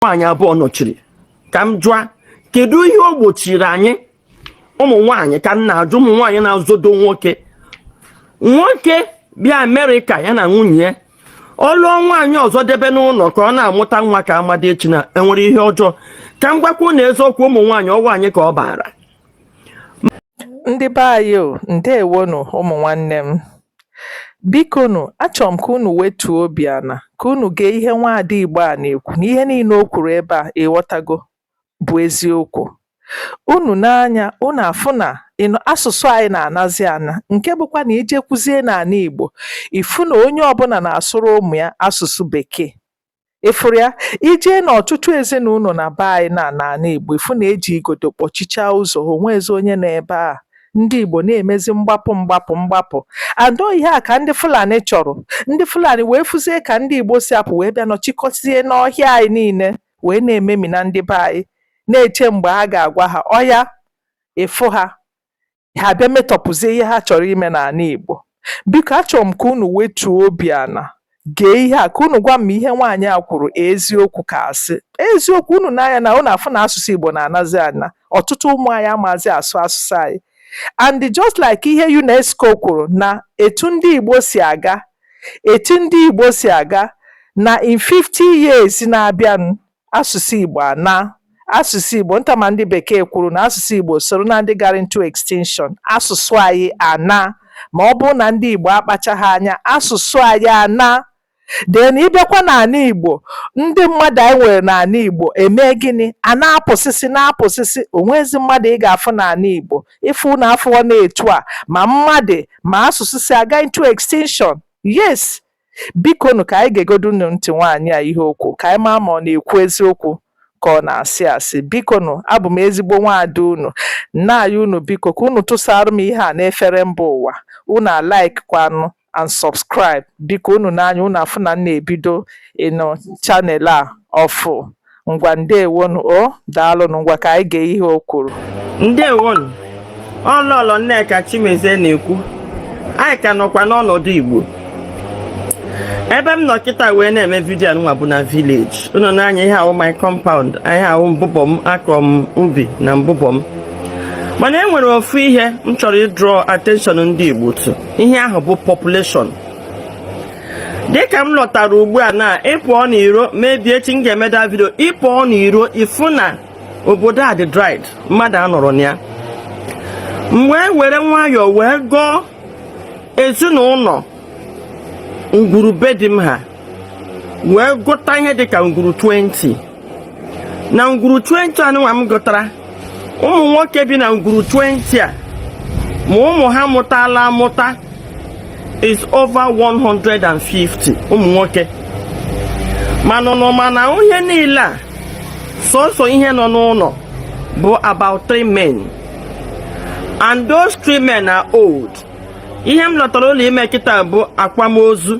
nwaanyị abụọ nọchiri ka m jụa kedu ihe o gbochiri anyị ụmụ nwaanyị ka m na-ajụ ụmụ nwaanyị na-azọdo nwoke nwoke bịa amerịka ya na nwunye ya ọ lụọ nwaanyị ọzọ debe n'ụlọ ka ọ na-amụta nwa ka ama di echina enwere ihe ọjọọ ka m gwakwu unu eziokwu ụmụ nwaanyị ọ wụ anyị ka ọ baara ndị be anyị o ndewonu ụmụ nwanne m Bikonu, achọrọ m ka unu wetuo obi ana, ka unu gee ihe nwaada Igbo a na-ekwu na ihe niile o kwuru ebe a ị ghọtago bụ eziokwu. Unu nee anya, unu afụ na asụsụ anyị na-anazi ana nke bụkwa na i jekwuzie n'ala Igbo, ị fụ na onye ọbụla na-asụrụ ụmụ ya asụsụ Bekee. ị fụrụ ya i jee n'ọtụtụ ezinụlọ na be anyị na n'ala Igbo ị fụ na e ji igodo kpọchichaa ụzọ o nwezi onye nọ ebe a ndị Igbo na-emezi mgbapụ mgbapụ mgbapụ and ihe a ka ndị Fulani chọrọ ndị Fulani wee fụzie ka ndị Igbo si apụ wee bịa nọchikọzie n'ọhịa anyị niile wee na-ememina ndị be anyị na-eche mgbe a ga-agwa ha ọya ị fụ ha ha abịa metọpụzie ihe ha chọrọ ime n'ala Igbo biko achọrọ m ka unu wetuo obi ana gee ihe a ka unu gwa m ihe nwaanyị a kwuru eziokwu ka asị eziokwu unu nee anya na unu afụ na asụsụ Igbo na-anazi ana ọtụtụ ụmụ anyị amazi asụ asụsụ anyị and just like ihe UNESCO kwuru na etu ndị Igbo si aga etu ndị Igbo si aga na in 50 years na-abịanụ asụsụ Igbo ana asụsụ Igbo nta ma ndị bekee kwuru na asụsụ Igbo soro na ndị gara into extinction asụsụ anyị ana ma ọ bụrụ na ndị Igbo akpachaghị anya asụsụ anyị ana then ị bịakwa n'ala Igbo ndị mmadụ anyị nwere n'ala Igbo eme gịnị a na-apụsịsị na-apụsịsị o nwezi mmadụ ị ga-afụ n'ala Igbo ị fụ unu afụọ na etu a ma mmadụ ma asụsụ si aga into extinction yes Bikonu ka anyị gegodunụ ntị nwaanyị a ihe o kwu ka anyị maa ma ọ na-ekwu eziokwu ka ọ na-asị asị. Bikonu, abụ m ezigbo nwaada unu. Na-ayọ unu biko ka unu tụsara m ihe a n'efere mba ụwa. Unu alikekwanụ and subscribe. Biko unu nee anya unu afụ na m na-ebido you know channel a ọfụụ. Ngwa ndewonu o daalụnụ ngwa ka anyị gee ihe o kwuru. Ndewonu, ọ Lọlọ Nneka Chimezie na-ekwu anyị ka nọkwa n'ọnọdụ Igbo ebe m nọ kịta wee na-eme vidio nwa bụ na village unu nee anya ihe a wụ my compound ihe a wụ mbụbọ m akọ m ubi na mbụbọ m mana e nwere ofu ihe m chọrọ ịdraw attention ndị Igbo to ihe ahụ bụ population dịka m lọtara ugbu a na ị pụọ n'iro maybe echi m ga-eme the vidio ị pụọ n'iro ị fụ na obodo a dị dried mmadụ anọrọ na ya m wee were nwayọọ wee gụọ ezinụlọ ngwuru be di m ha wee gụta ihe dịka ngwuru 20 na ngwuru 20 anụnwa m gụtara ụmụ nwoke bi na ngwuru 20 a ma ụmụ ha mụtala amụta is over 150 ụmụ nwoke mana nọ mana ihe niile a sọsọ ihe nọ n'ụlọ bụ about three men and those three men are old ihe m lọtara ụlọ ime kịta bụ akwamozu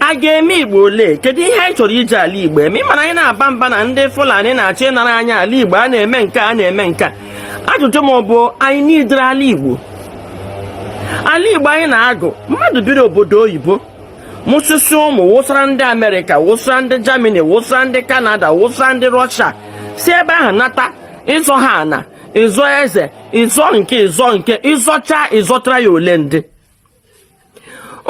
a ga-eme igbo ole kedu ihe anyị chọrọ iji ala igbo eme ị ma na anyị na-aba mba na ndị fulani na-achọ ịnara anyị ala igbo a na-eme nke a na-eme nke a ajụjụ m bụ anyị n'idere ala igbo ala igbo anyị na-agụ mmadụ biri obodo oyibo mụsịsị ụmụ wụsara ndị amerịka wụsara ndị jamani wụsara ndị kanada wụsara ndị rọsha si ebe ahụ nata ịzọ ha ana ịzọ eze ịzọ nke ịzọ nke ị zọchaa ị zọtara ya ole ndị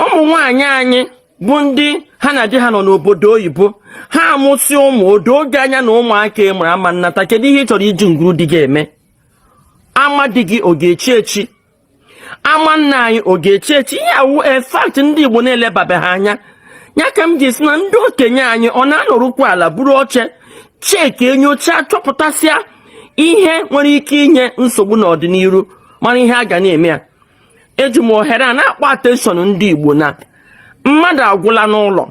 ụmụ nwanyị anyị bụ ndị ha na di ha nọ n'obodo oyibo ha amụsị ụmụ o doo gị anya na ụmụaka ị mụrụ ama nnata kedu ihe ị chọrọ iji ngwuru di gị eme ama di gị ọ ga-echi echi ama nna anyị ọ ga-echi echi ihe a wụ a fact ndị igbo na-elebabeghị anya ya ka m ji sị na ndị okenye anyị ọ na-anọrụkwa ala buru oche chekie nyochaa chọpụtasịa ihe nwere ike inye nsogbu n'ọdịnihu mara ihe a ga na-eme ya eji m ohere a na-akpọ attention ndị Igbo na mmadụ agwụla n'ụlọ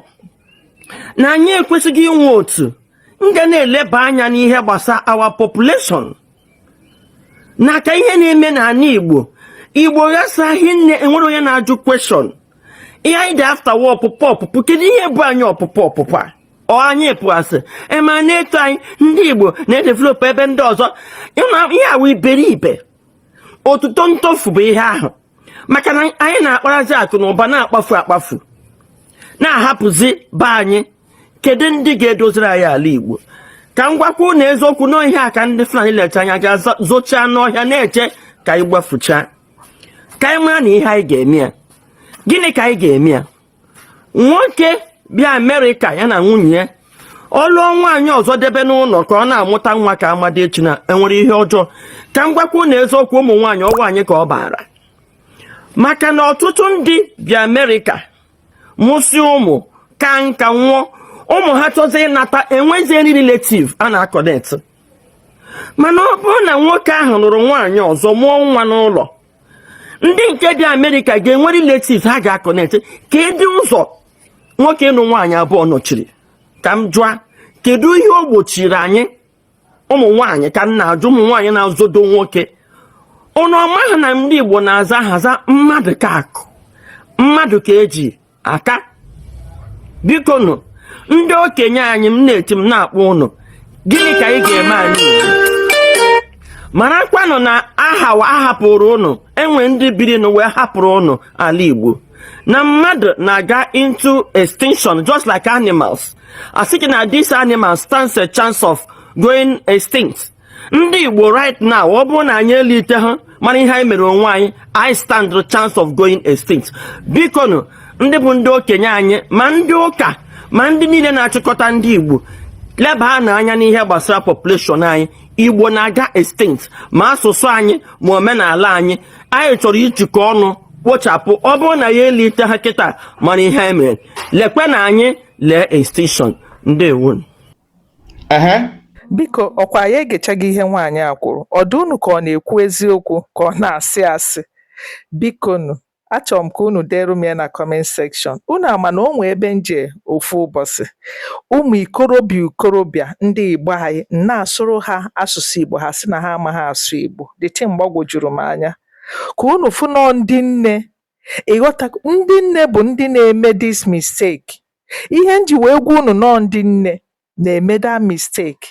na anyị ekwesịghị inwe otu nga na-eleba anya n'ihe gbasa our population na ka ihe na-eme n'ala Igbo Igbo ghasaghị nne enwere onye na-ajụ question ihe anyị dị after wụ ọpụpụ ọpụpụ kedu ihe bụ anyị ọpụpụ ọpụpụ a ọ anyị pụasị ema na-eto anyị ndị Igbo na-edevelop ebe ndị ọzọ ihe a wụ iberibe otuto ntofu bụ ihe ahụ maka na anyị na-akparazi akụ na ụba na-akpafu akpafu na-ahapụzi be anyị kedu ndị ga-edoziri anyị ala Igbo ka m gwakwa ụnụ eziokwu na ọ ihe a ka ndị Fulani lecha anya gaa zochaa n'ọhịa na-eche ka anyị gbafuchaa ka anyị maranụ ihe anyị ga-eme ya gịnị ka anyị ga-eme ya nwoke bịa amerịka ya na nwunye ya ọ lụọ nwaanyị ọzọ debe n'ụlọ ka ọ na-amụta nwa ka ama di echina e nwere ihe ọjọọ ka m gwakwa ụnụ eziokwu ụmụ nwaanyị ọ wụ anyị ka ọ baara maka na ọtụtụ ndị bịa amerịka mụsị ụmụ kaa nka nwụọ ụmụ ha chọzi ịnata e nweziri relative a na-akọnet mana ọ bụrụ na nwoke ahụ lụrụ nwaanyị ọzọ mụọ nwa n'ụlọ ndị nke bi amerịka ga-enwe relative ha ga-akọnetị kedu ụzọ nwoke ịnụ nwaanyị abụọ nọchiri ka m jụa kedu ihe o gbochiri anyị ụmụ nwaanyị ka m na-ajụ ụmụ nwaanyị na-azọdo nwoke ụnụ amaghị na ndị igbo na-aza aha aza mmadụ ka akụ mmadụ ka eji aka biko nụ ndị okenye anyị m na-eti m na-akpọ ụnụ gịnị ka ị ga-eme anyị marakwanụ na aha ahapụrụ ụnụ e nwe ndị biri n'ụwa wee hapụrụ ụnụ ala Igbo na mmadụ na-aga into extinction just like animals a sị gị na this animal stands a chance of going extinct ndị igbo right now ọ bụrụ na anyị eliteha mara ihe anyị mere onwe anyị anyị stand the chance of going extinct biko nụ ndị bụ ndị okenye anyị ma ndị ụka ma ndị niile na-achịkọta ndị igbo lebaanụ anya n'ihe gbasara population anyị igbo na-aga extinct ma asụsụ anyị ma omenala anyị anyị chọrọ ijikọ ọnụ kpochapụ ọ bụrụ na anyị eliteha kịta mara ihe anyị mere lekwenụ anyị lee extinction ndewo Biko ọkwa anyị egechago ihe nwaanyị a kwuru, ọ dị unu ka ọ na-ekwu eziokwu ka ọ na-asị asị? Bikonu, achọrọ m ka unu deere m ya na kọment sekshọn. Unu ama na o nwe ebe m jee ofu ụbọchị, ụmụ ikorobịa ikorobịa ndị Igbo anyị m na-asụrụ ha asụsụ Igbo ha sị na ha amaghị asụ Igbo. The thing gbagwojuru m anya. Ka unu fụ na ọ ndị nne ịghọta ndị nne bụ ndị na-eme this mistake Ihe m ji wee gwa unu na ọ ndị nne na-eme that mistake.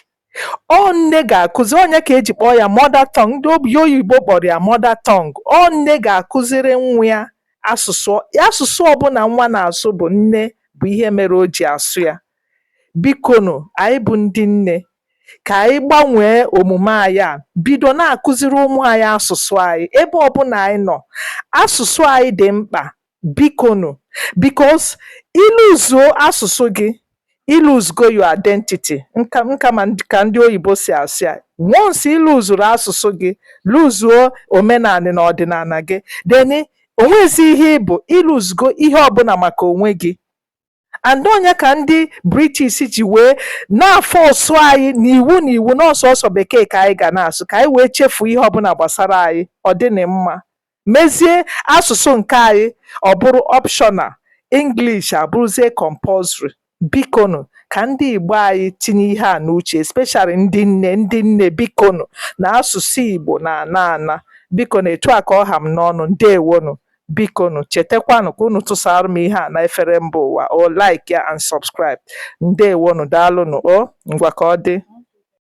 Ọ nne ga-akụzi ọ nya ka e ji kpọọ ya mother tongue ndị obi oyibo kpọrọ ya mother tongue. Ọ nne ga-akụziri nwa ya asụsụ asụsụ ọbụla nwa na-asụ bụ nne bụ ihe mere o ji asụ ya. Bikonu anyị bụ ndị nne ka anyị gbanwee omume anyị a bido na-akụziri ụmụ anyị asụsụ anyị ebe ọbụla anyị nọ. Asụsụ anyị dị mkpa bikonu because i luzuo asụsụ gị i luzugo your identity nka nka ma ndị- ka ndị oyibo si asị ya once i luzuru asụsụ gị luzuo omenala na ọdịnala gị then o nwezi ihe ị bụ i luzugo ihe ọbụla maka onwe gị and ọ nya ka ndị british ji wee na-afọsụ anyị n'iwu n'iwu na ọ sọsọ bekee ka anyị ga na-asụ ka anyị wee chefuo ihe ọbụla gbasara anyị ọ dịnị mma mezie asụsụ nke anyị ọ bụrụ optional english abụrụzie compulsory bikonu ka ndị igbo anyị tinye ihe a n'uche especially ndị nne ndị nne bikonu na asụsụ igbo na-ana ana bikonu etu a ka ọ ha m n'ọnụ ndewonu Bikonu chetakwanụ ka unu tụsaara m ihe a n'efere mba ụwa o like ya and subscribe. Ndewonụ, daalụnụ o, ngwa ka ọ dị.